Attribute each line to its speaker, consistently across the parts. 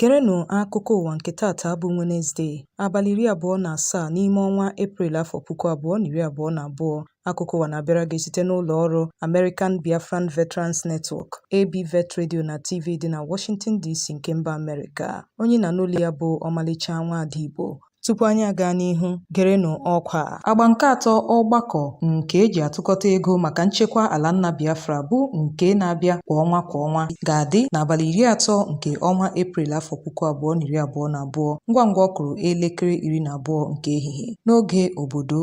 Speaker 1: Gerenụ akụkọ ụwa nke taata bụ Wenezde, abalị iri abụọ na asaa n'ime ọnwa Eprel afọ puku abụọ na iri abụọ na abụọ. Akụkọ ụwa na-abịara gị site n'ụlọ ọrụ American Biafran Veterans Network, ABVET Radio na TV dị na Washington DC nke mba Amerịka. Onye ị na-anụ olu ya bụ Ọmalịcha Nwaada Igbo. Tupu anyị agaa n'ihu, gerenụ ọkwa a. Agba nke atọ ọgbakọ nke e ji atụkọta ego maka nchekwa ala nna Biafra bụ nke na-abịa kwa ọnwa kwa ọnwa ga-adị n'abalị iri atọ nke ọnwa Eprel afọ puku abụọ na iri abụọ na abụọ ngwa ngwa ọ kụrụ elekere iri na abụọ nke ehihie n'oge obodo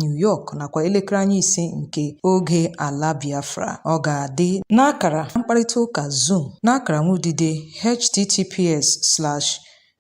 Speaker 1: New York nakwa elekere anya ise nke oge ala Biafra. Ọ ga-adị n'akara mkparịta ụka Zoom n'akara nwudide https slash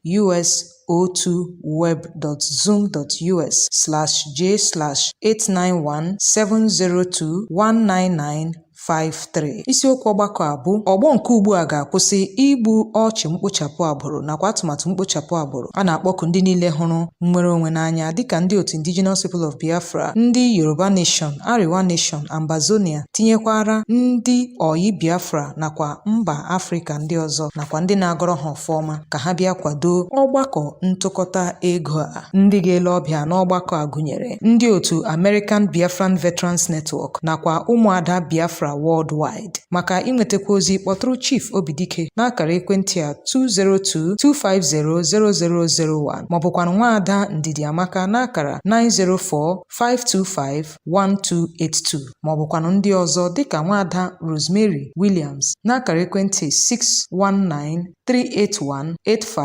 Speaker 1: us02web.zoom.us/j/891702199 53 isiokwu ọgbakọ a bụ ọgbọ nke ugbu a ga-akwụsị igbu ọchụ mkpochapụ agbụrụ nakwa atụmatụ mkpochapụ agbụrụ a na-akpọku ndị niile hụrụ nnwere onwe n'anya dịka ndị otu indigenous people of biafra ndị yoruba nation arewa nation ambazonia tinyekwara ndị ọyị biafra nakwa mba afrịka ndị ọzọ nakwa ndị na-agọrọ ha ọfọ ọma ka ha bịa kwadoo ọgbakọ ntụkọta ego a. Ndị ga-ele ọbịa n'ọgbakọ a gụnyere ndị otu American Biafran Veterans Network nakwa ụmụada Biafra worldwide. Maka inwetakwu ozi kpọtụrụ Chief Obidike n'akara ekwentị a 202-250-0001 maọbụkwanụ nwaada Ndidiamaka n'akara 904-525 1282 ma ọ bụkwanụ ndị ọzọ dịka nwaada Rosemary Williams n'akara ekwentị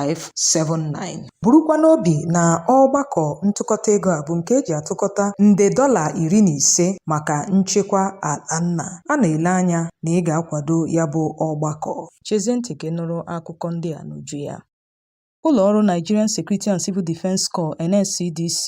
Speaker 1: 619-381-8579 burukwa n'obi na ọgbakọ ntụkọta ego a bụ nke e ji atụkọta nde dọla iri na ise maka nchekwa ala nna a na-ele anya na ị ga-akwado ya bụ ọgbakọ chezie ntị ka ị nụrụ akụkọ ndị a n'uju ya Ụlọ ọrụ Nigerian Security and Civil Defence Corps (NSCDC)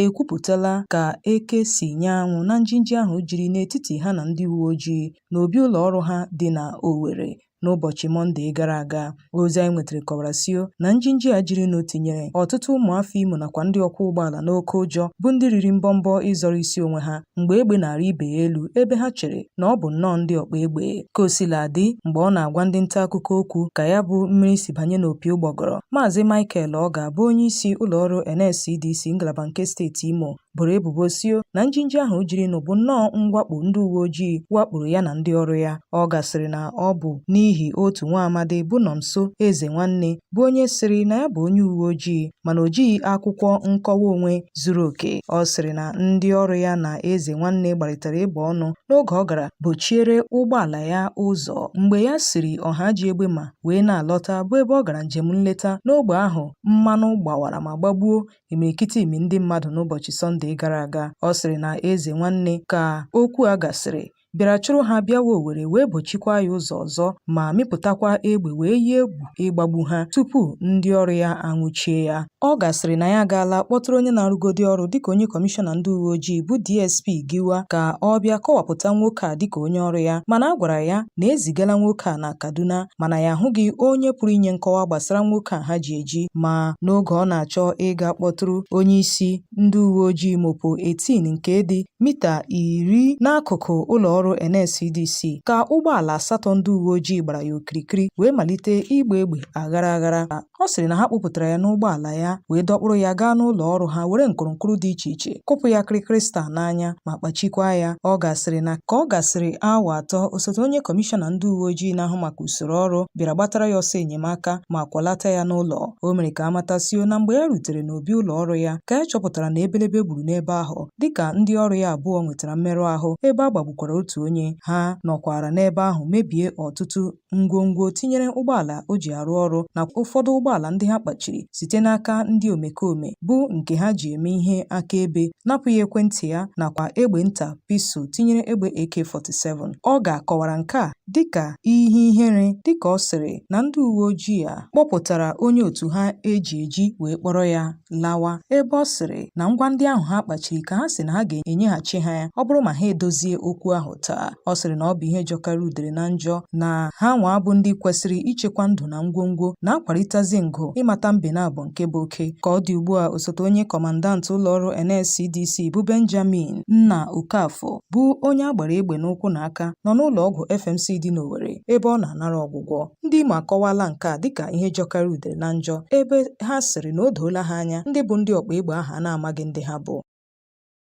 Speaker 1: ekwupụtala ka eke si nyaa anwụ na njinji ahụ jiri n'etiti ha na ndị uwe ojii n'obi ụlọ ọrụ ha dị na Owerri n'ụbọchị Mọnde gara aga. Ozi anyị nwetara kọwara sio na njinji a jirinụ tinyere ọtụtụ ụmụafọ Imo nakwa ndị ọkwọ ụgbọala n'oke ụjọ bụ ndị riri mbọmbọ ịzọrọ isi onwe ha mgbe egbe na-arị ibe ya elu ebe ha chere na ọ bụ nnọọ ndị ọgba egbe ka o sila dị mgbe ọ na-agwa ndị nta akụkọ okwu ka ya bụ mmiri si banye n'opi ụgbọgọrọ maazị Michael Ogar bụ onye isi ụlọọrụ NSCDC ngalaba nke steeti Imo boro ebubo sio na njinji ahụ jirinụ bụ nnọọ mwakpo ndị uwe ojii wakporo ya na ndị ọrụ ya Ogar sịrị na ọ bụ n'ihi otu nwa amadi bụ Nọnso Eze nwanne bụ onye sịrị na ya bụ onye uwe ojii mana o jighị akwụkwọ nkọwa onwe zuru oke. Ọ sịrị na ndị ọrụ ya na Ezenwanne gbarịtara ịgba ọnụ n'oge ọ gara bochiere ụgbọala ya ụzọ mgbe ya siri Ọhaji Egbema wee na-alọta bụ ebe ọ gara njem nleta n'ogbe ahụ mmanụ gbawara ma gbagbuo imirikiti imi ndị mmadụ n'ụbọchị Sọnde gara aga. Ọ sịrị na Ezenwanne ka okwu a gasịrị bịara chụrụ ha bịawa Owere wee bochikwa ya ụzọ ọzọ ma mịpụtakwa egbe wee yie egwu ịgbagbu ha tupu ndị ọrụ ya anwụchie ya. Ogar sịrị na ya agaala kpọtụrụ onye na-arụgodi ọrụ dịka onye kọmishọna ndị uwe ojii bụ DSP Giwa ka ọ bịa kọwapụta nwoke a dịka onye ọrụ ya mana a gwara ya na e zigala nwoke a na Kaduna mana ya ahụghị onye pụrụ inye nkọwa gbasara nwoke a ha ji eji ma n'oge ọ na-achọ ịga kpọtụrụ onye isi Ndị uwe ojii Mopol 18 nke dị mita iri n'akụkụ ụlọ ọrụ NSCDC ka ụgbọala asatọ ndị uwe ojii gbara ya okirikiri wee malite ịgba egbe aghara aghara. Ọ sịrị na ha kpụpụtara ya n'ụgbọala ya wee dọkpụrụ ya gaa n'ụlọ ọrụ ha were nkụrụnkụrụ dị iche iche kụpụ ya kịrịkịrị staa n'anya ma kpachikwa ya. Ogar sịrị na ka ọ gasịrị awa atọ osote onye kọmishọna ndị uwe ojii na-ahụ maka usoro ọrụ bịara gbatara ya ọsọ enyemaka ma kwọlata ya n'ụlọ. O mere ka a matasio na mgbe ya rutere n'o obi ụlọ ọrụ ya ka ya chọpụtara na ebelebe gburu n'ebe ahụ dịka ndị ọrụ ya abụọ nwetara mmerụ ahụ ebe a gbagbukwara otu onye ha nọkwara n'ebe ahụ mebie ọtụtụ ngwongwo tinyere ụgbọala o ji arụ ọrụ na ụfọdụ ụgbọala ndị ha kpachiri site n'aka ndị omekome bụ nke ha ji eme ihe akaebe napụ ya ekwentị ya nakwa egbe nta pistol tinyere egbe AK-47 Ogar kọwara nke a dịka ihe ihere dịka ọ sịrị na ndị uwe ojii a kpọpụtara onye otu ha e ji eji wee kpọrọ ya lawa ebe ọ sịrị na ngwa ndị ahụ ha kpachiri ka ha sị na ha ga-enyeghachi ha ya ọ bụrụ ma ha edozie okwu ahụ taa ọ sịrị na ọ bụ ihe jọkara udere na njọ na ha nwa bụ ndị kwesịrị ichekwa ndụ na ngwongwo na-akwarịtazi ngụ ịmata mbe naabọ nke bụ oke ka ọ dị ugbu a osote onye kọmandantị ụlọọrụ NSCDC bụ Benjamin Nna Okafọ bụ onye a gbara egbe n'ụkwụ na aka nọ n'ụlọ ọgwụ FMC dị n'Owerri ebe ọ na-anara ọgwụgwọ Ndị Imo akọwaala nke a dịka ihe jọkara udere na njọ ebe ha sịrị na o doola ha anya ndị bụ ndị ọkpa egbe ahụ a na-amaghị ndị ha bụ.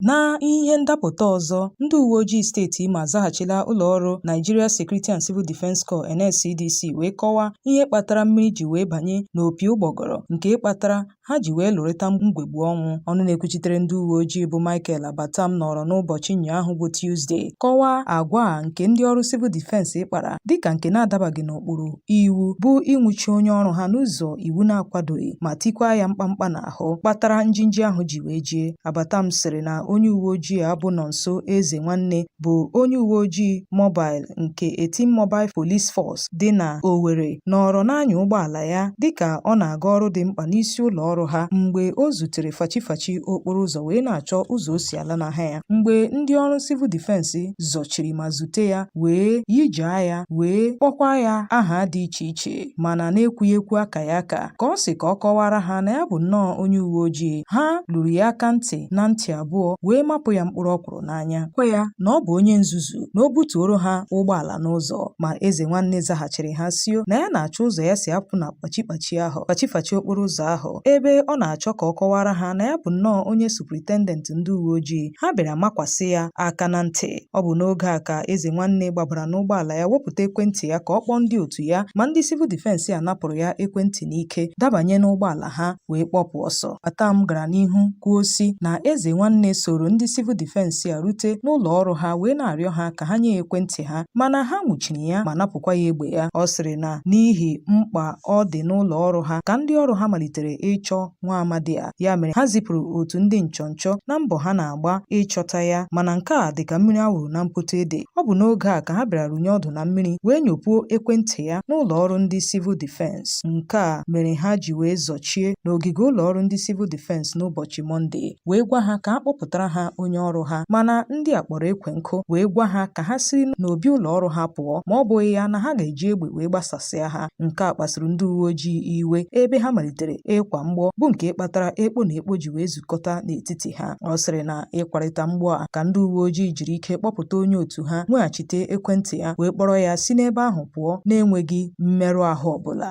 Speaker 1: Na ihe ndapụta ọzọ, ndị uwe ojii steeti Imo azaghachila ụlọ ọrụ Nigeria Security and Civil Defence Corps NSCDC wee kọwaa ihe kpatara mmiri ji wee banye n'opi ụgbọgọrọ nke kpatara ha ji wee lụrịta mgbegbu ọnwụ. Ọnụ na-ekwuchitere ndị uwe ojii bụ Michael Abattam nọrọ n'ụbọchị ụnyaahụ bụ Tuesday kọwaa agwa a nke ndị ọrụ civil defense kpara dịka nke na-adabaghị n'ụkpụrụ iwu bụ ịnwụchi onye ọrụ ha n'ụzọ iwu na-akwadoghị ma tikwaa ya mkpamkpa n'ahụ kpatara njinji ahụ ji wee jie. Abattam sịrị na onye uwe ojii a bụ Nonso Ezenwanne bụ onye uwe ojii mobile nke Eighteen Mobile Police Force dị na Owerri nọrọ na-anya ụgbọala ya dịka ọ na-aga ọrụ dị mkpa n'isi ụlọ ọrụ ha mgbe o zutere fachifachi okporo ụzọ wee na-achọ ụzọ o si ala n'ahịa ya mgbe ndị ọrụ Civil Defense zọchiri ma zute ya wee yijaa ya wee kpọkwa ya aha dị iche iche mana na-ekwughị ekwu aka ya aka ka ọ sị ka ọ kọwara ha na ya bụ nnọọ onye uwe ojii ha lụrụ ya aka ntị na ntị abụọ wee mapụ ya mkpụrụ ọkwụrụ n'anya gwa ya na ọ bụ onye nzuzu na o butuoro ha ụgbọala n'ụzọ ma eze nwanne zaghachiri ha sio na ya na-achọ ụzọ ya si apụ na kpachikpachi ahụ fachifachi okporo ụzọ ahụ ebe ọ na-achọ ka ọ kọwara ha na ya bụ nnọọ onye superintendent ndị uwe ojii ha bịara makwasị ya aka na ntị ọ bụ n'oge a ka eze nwanne gbabara n'ụgbọala ya wepụta ekwentị ya ka ọ kpọọ ndị otu ya ma ndị Civil Defense a napụrụ ya ekwentị n'ike dabanye n'ụgbọala ha wee kpọpụ ọsọ. Abattam gara n'ihu kwuo sị na Eze Nwanne soro ndị Civil Defense a rute n'ụlọ ọrụ ha wee na-arịọ ha ka ha nye ya ekwentị ha mana ha nwụchiri ya ma napụkwa ya egbe ya. Ọ sịrị na n'ihi mkpa ọ dị n'ụlọ ọrụ ha ka ndị ọrụ ha malitere ịchọ nwa amadi a, ya mere ha zipụrụ otu ndị nchọnchọ na mbọ ha na-agba ịchọta ya mana nke a dị ka mmiri a wụrụ na mpoto ede. Ọ bụ n'oge a ka ha bịara runye ọdụ na mmiri wee nyopuo ekwentị ya n'ụlọ ọrụ ndị Civil Defense. Nke a mere ha ji wee zọchie n'ogige ụlọ ọrụ ndị Civil Defense n'ụbọchị Mọnde wee gwa ha ka ha kpọpụtara ha onye ọrụ ha mana ndị a kpọrọ ekwe nkụ wee gwa ha ka ha si n'obi ụlọ ọrụ ha pụọ ma ọ bụghị ya na ha ga-eji egbe wee gbasasịa ha nke a kpasuru ndị uwe ojii iwe ebe ha malitere ịkwa mgbọ bụ nke kpatara ekpo na ekpo ji wee zukọta n'etiti ha ọ sịrị na ịkwarịta mgbọ a ka ndị uwe ojii jiri ike kpọpụta onye otu ha nweghachite ekwentị ya wee kpọrọ ya si n'ebe ahụ pụọ na-enweghị mmerụ ahụ ọbụla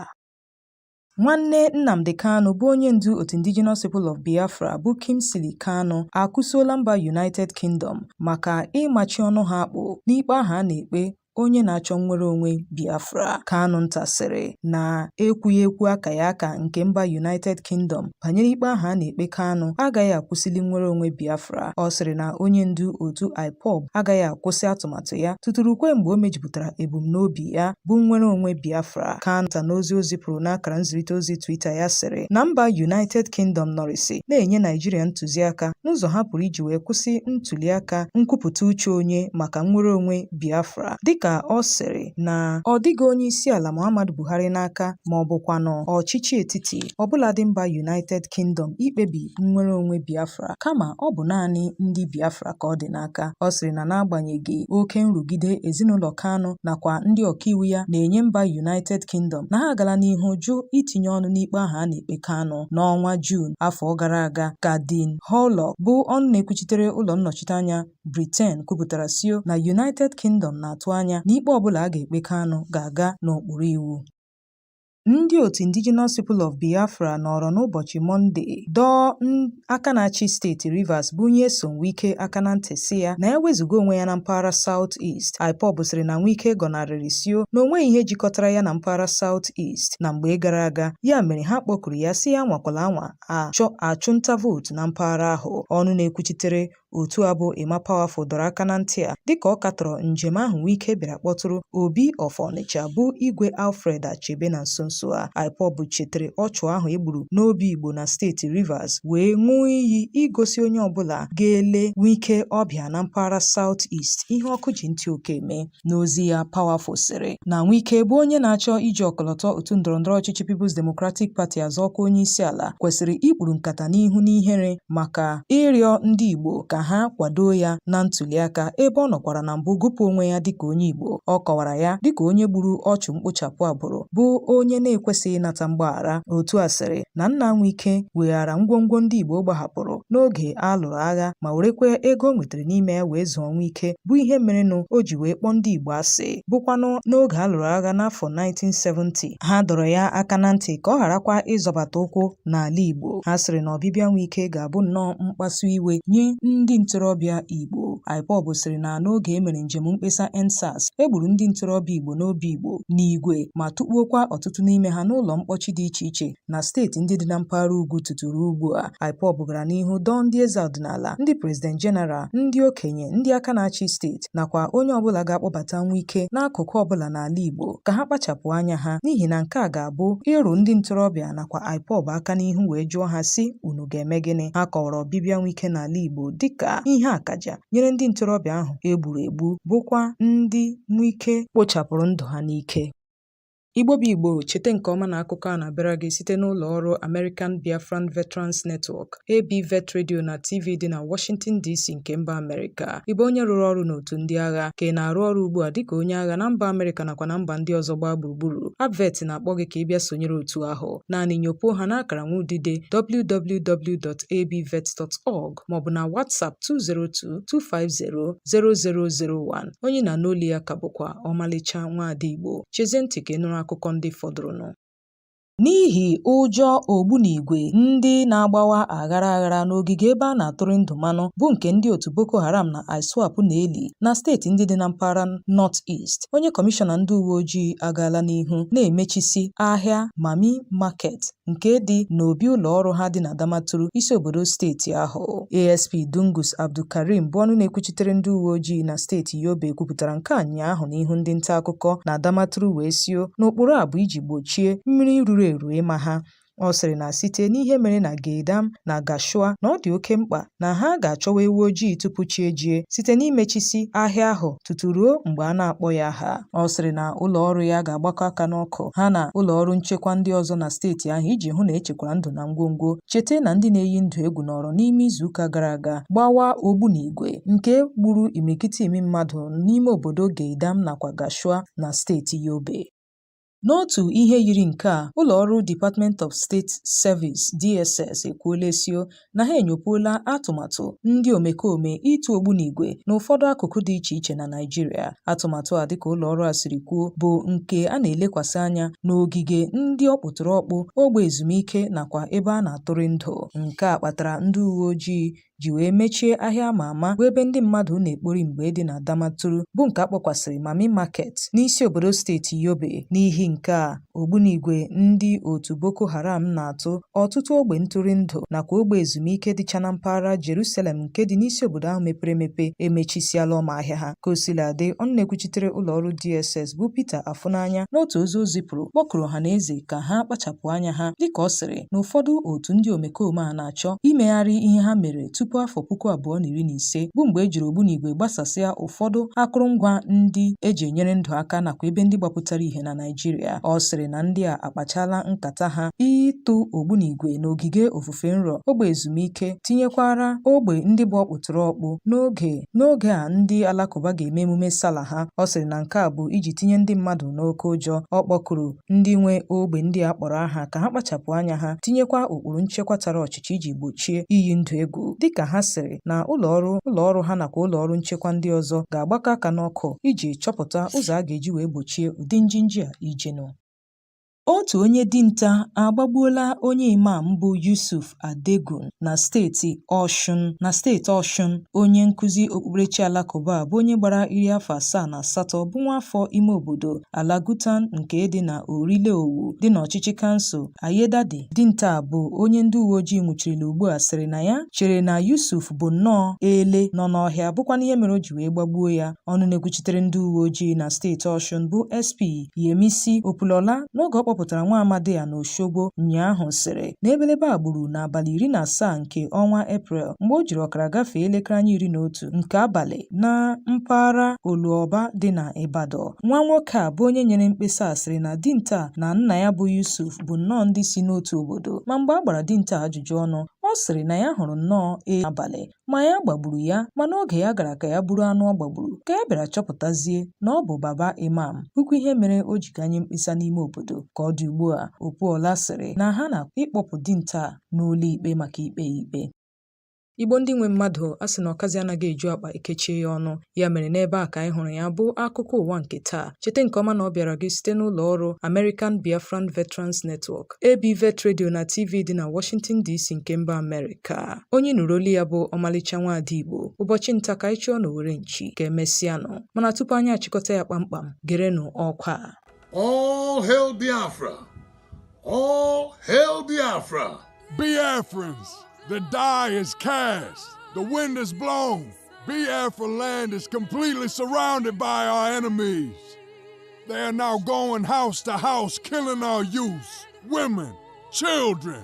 Speaker 1: Nwanne Nnamdi Kanu bụ onye ndu otu Indigenous People of Biafra bụ Kingsley Kanu akụsuola mba United Kingdom maka ịmachi ọnụ ha akpụ n'ikpe ahụ a na-ekpe onye na-achọ nnwere onwe Biafra, Kanu Nta sịrị na ekwughị ekwu aka ya aka nke mba United Kingdom banyere ikpe ahụ a na-ekpe Kanu agaghị akwụsịli nnwere onwe Biafra. Ọ sịrị na onye ndu otu IPOB agaghị akwụsị atụmatụ ya tutu rukwe mgbe o mejupụtara ebumnobi ya bụ nnwere onwe Biafra. Kanu Nta n'ozi o zipụrụ n'akara nzirịta ozi Twitter ya sịrị na mba United Kingdom nọrịsị na-enye Naijiria ntụziaka n'ụzọ ha pụrụ iji wee kwụsị ntuliaka nkwupụta uche onye maka nnwere onwe Biafra dịka ọ sịrị na ọ dịghị onyeisiala Muhammadu Buhari n'aka ma ọ bụkwanụ ọchịchị etiti ọbụladị mba United Kingdom ikpebi nnwere onwe Biafra kama ọ bụ naanị ndị Biafra ka ọ dị n'aka. Ọ sịrị na n'agbanyeghị oke nrụgide ezinụlọ Kanu nakwa ndị ọkaiwu ya na-enye mba United Kingdom na ha agala n'ihu jụ itinye ọnụ n'ikpe ahụ a na-ekpe Kanu n'ọnwa Juun afọ gara aga ka Dean Hurlock bụ ọnụ na-ekwuchitere ụlọ nnọchiteanya Britain kwupụtara sio na United Kingdom na-atụ anya na ikpe ọbụla a ga-ekpe Kanu ga-aga n'okpuru iwu. Ndị otu Indigenous People of Biafra nọọrọ n'ụbọchị Mọnde dọọ aka na-achị steeti Rivers bụ Nyesom Wike aka na ntị sị ya na ya wezuga onwe ya na mpaghara South East. IPOB sịrị na Wike gọnarịrị sio na o nweghị ihe jikọtara ya na mpaghara South East na mgbe gara aga, ya mere ha kpọkuru ya sị ya nwakwala anwa achọ achụnta vootu na mpaghara ahụ. Ọnụ na-ekwuchitere Otu a bụ Emma Powerful dọrọ aka na ntị a dịka ọ katọrọ njem ahụ Wike bịara kpọtụrụ Obi of Ọnịcha bụ Igwe Alfred Achebe na nso nso a. IPOB chetere ọchụ ahụ e gburu n'Obigbo na steeti Rivers wee ṅụọ iyi igosi onye ọbụla ga-ele Wike ọbịa na mpaghara South East ihe ọkụ ji ntị oke eme. N'ozi ya, Powerful sịrị na Wike bụ onye na-achọ iji ọkọlọtọ otu ndọrọndọrọ ọchịchị People's Democratic Party azọ ọkwa onyeisiala kwesịrị ikpuru nkata n'ihu n'ihere maka ịrịọ ndị Igbo ka ha kwado ya na ntuliaka ebe ọ nọkwara na mbụ gụpụ onwe ya dịka onye Igbo. Ọ kọwara ya dịka onye gburu ọchụ mkpochapụ agbụrụ bụ onye na-ekwesịghị ịnata mgbaghara. Otu a sịrị na nna Wike weghara ngwongwo ndị Igbo gbahapụrụ n'oge a lụrụ agha ma werekwa ego o nwetara siri n'ime ya wee zụọ Wike bụ ihe merenụ o ji wee kpọọ ndị Igbo asị bụkwanụ n'oge a lụrụ agha n'afọ 1970 ha dọrọ ya aka na ntị ka ọ gharakwa ịzọbata ụkwụ n'ala Igbo ha sịrị na ọbịbịa Wike ga-abụ nnọọ mkpasu iwe nye ndị ntorobịa Igbo IPOB sịrị na n'oge e mere njem mkpesa EndSARS e gburu ndị ntorobịa Igbo n'Obigbo n'igwe ma tụkpuokwa ọtụtụ n'ime ha n'ụlọ mkpọchi dị iche iche na steeti ndị dị na mpaghara ugwu tutu ruo ugbu a IPOB gara n'ihu dọọ ndị eze ọdịnala ndị prezident jeneral ndị okenye ndị aka na-achị steeti nakwa onye ọbụla ga-akpọbata Wike n'akụkụ ọbụla n'ala Igbo ka ha kpachapụ anya ha n'ihi na nke a ga-abụ ịrụ ndị ntorobịa nakwa IPOB aka n'ihu wee jụọ ha sị unu ga-eme gịnị ha kọwara ọbịbịa Wike n'ala Igbo dịka ihe akaja nyere ndị ntorobịa ahụ e gburu egbu bụkwa ndị Wike kpochapụrụ ndụ ha n'ike Igbo bụ Igbo, cheta nke ọma na akụkọ a na-abịara gị site n'ụlọ ọrụ American Biafran Veterans Network, ABVET Radio na TV dị na Washington DC nke mba Amerịka. Ị bụ onye rụrụ ọrụ n'otu ndị agha ka ị na-arụ ọrụ ugbu a dịka onye agha na mba Amerịka nakwa na mba ndị ọzọ gbaa gburugburu. ABVET na-akpọ gị ka ị bịa sonyere otu ahụ. Naanị nyopuo ha n'akara nwa udide www.abvet.org maọbụ na WhatsApp 202-250-0001. Onye ị na-anụ olu ya ka bụkwa ọmalịcha nwaada Igbo. Chezie ntị ka ị nụrụ akụkọ ndị fọdụrụnụ. N'ihi ụjọ ogbunigwe ndị na-agbawa aghara aghara n'ogige ebe a na-atụrị ndụ mmanụ bụ nke ndị otu Boko Haram na ISWAP na-eli na steeti ndị dị na mpaghara North East, onye kọmishọna ndị uwe ojii agaala n'ihu na-emechisi ahịa Mammy Market nke dị n'obi ụlọ ọrụ ha dị na Damaturu, isi obodo steeti ahụ. ASP Dungus Abdulkarim bụ ọnụ na-ekwuchitere ndị uwe ojii na steeti Yobe kwupụtara nke a ụnyaahụ n'ihu ndị nta akụkọ na Damaturu wee sio n'ụkpụrụ a bụ iji gbochie mmiri ruru eru ịma ha. Ọ sịrị na site n'ihe mere na Geidam na Gashua na ọ dị oke mkpa na ha ga-achọwa ewu ojii tupu chi ejie site n'imechisi ahịa ahụ tutu ruo mgbe a na-akpọghị aha. Ọ sịrị na ụlọ ọrụ ya ga-agbakọ aka n'ọkụ ha na ụlọ ọrụ nchekwa ndị ọzọ na steeti ahụ iji hụ na echekwara ndụ na ngwongwo. Cheta na ndị na-eyi ndụ egwu nọrọ n'ime izuụka gara aga gbawa ogbunigwe nke gburu imirikiti mmadụ n'ime obodo Geidam nakwa Gashua na steeti Yobe. N'otu ihe yiri nke a, ụlọ ọrụ Department of State Service DSS ekwuola esio na ha enyopuola atụmatụ ndị omekome ịtụ ogbunigwe n'ụfọdụ akụkụ dị iche iche na Naịjirịa. Atụmatụ a dịka ụlọ ọrụ a siri kwuo bụ nke a na-elekwasị anya n'ogige ndị ọkpụtọrọkpụ, ogbe ezumike nakwa ebe a na-atụrị ndụ. Nke a kpatara ndị uweojii ji wee mechie ahịa ama ama bụ ebe ndị mmadụ na-ekpori mgbe dị na Damaturu bụ nke a kpọkwasịrị Mami Market n'isi obodo steeti Yobe n'ihi nke a ogbunigwe ndị otu Boko Haram na-atụ ọtụtụ ogbe ntụrụndụ nakwa ogbe ezumike dịcha na mpaghara Jerusalem nke dị n'isi obodo ahụ mepere emepe emechisiala ọma ahịa ha ka o sila dị ọnụ na-ekwuchitere ụlọ ọrụ DSS bụ Peter Afunanya n'otu ozi o zipụrụ kpọkuru ọha na eze ka ha kpachapụ anya ha dịka ọ sịrị na ụfọdụ otu ndị omekome a na na-achọ imegharị ihe ha mere tupu afọ puku abụọ na iri na ise bụ mgbe e jiri ogbunigwe gbasasịa ụfọdụ akụrụngwa ndị eji enyere ndụ aka nakwa ebe ndị gbapụtara ihe na Naịjirịa. Ọ sịrị na ndị a akpachala nkata ha ịtụ ogbunigwe n'ogige ofufe nru, ogbe ezumike, tinyekwara ogbe ndị bụ ọkpụtọrọkpụ n'oge n'oge a ndị Alakụba ga-eme emume Sala ha. Ọ sịrị na nke a bụ iji tinye ndị mmadụ n'oke ụjọ. Ọ kpọkuru ndị nwe ogbe ndị a kpọrọ aha ka ha kpachapụ anya ha tinyekwa ụkpụrụ nchekwa tara ọchịchị iji gbochie iyi ndụ egwu dịka ha sịrị na ụlọ ọrụ ụlọ ọrụ ha nakwa ụlọ ọrụ nchekwa ndị ọzọ ga-agbakọ aka n'ọkụ iji chọpụta ụzọ a ga-eji wee gbochie ụdị njinji a ijinụ Otu onye dinta agbagbuola onye Imam bụ Yusuf Adegun na steeti Ọshụn. Na steeti Ọshụn, onye nkụzi okpukperechi Alakụba a bụ onye gbara iri afọ asaa na asatọ bụ nwaafọ ime obodo Alagutan nke dị na Orile Owu dị n'ọchịchị kansụl Ayedade. Dinta a bụ onye ndị uweojii nwụchirila ugbu a sịrị na ya chere na Yusuf bụ nnọọ ele nọ n'ọhịa bụkwanụ ihe mere o ji wee gbagbuo ya. Ọnụ na-ekwuchitere ndị uweojii na steeti Ọshụn bụ SP Yemisi Opalola n'oge ọ kpọpụtara nwa amadị a n'Oshogbo ụnyaahụ sịrị na ebelebe a gburu n'abalị iri na asaa nke ọnwa Eprel mgbe o jiri ọkara gafee elekere anya iri na otu nke abalị na mpaghara Oluoba dị na Ibadan. Nwa nwoke a bụ onye nyere mkpesa a sịrị na dinta a na nna ya bụ Yusuf bụ nnọọ ndị si n'otu obodo ma mgbe a gbara dinta a ajụjụ ọnụ, ọ sịrị na ya hụrụ nnọọ edi abalị ma ya gbagburu ya ma n'oge ya gara ka ya buru anụ ọ gbagburu ka ya bịara chọpụtazie na ọ bụ Baba Imam bụkwa ihe mere o ji gaa nye mkpesa n'ime obodo ka ọ dị ugbu a Opalola sịrị na ha na ịkpọpụ dinta n'ụlọ ikpe maka ikpe ya ikpe Igbo ndị nwe mmadụ a sị na ọkazi anaghị eju akpa e kechie ya ọnụ ya mere n'ebe a ka anyị hụrụ ya bụ akụkọ ụwa nke taa cheta nke ọma na ọ bịara gị site n'ụlọ ọrụ American Biafran Veterans Network AB Vet Radio na TV dị na Washington DC nke mba Amerịka onye ị nụrụ olu ya bụ Ọmalịcha Nwaada Igbo ụbọchị nta ka anyị chụọ n'owere nchi ka emesịanụ mana tupu anyị achịkọta ya kpamkpam gerenụ ọkwa All
Speaker 2: hail Biafra! All hail Biafra!
Speaker 3: Biafrans, the die is cast, the wind is blown, Biafra land is completely surrounded by our enemies. They are now going house to house, killing our youth, women, children.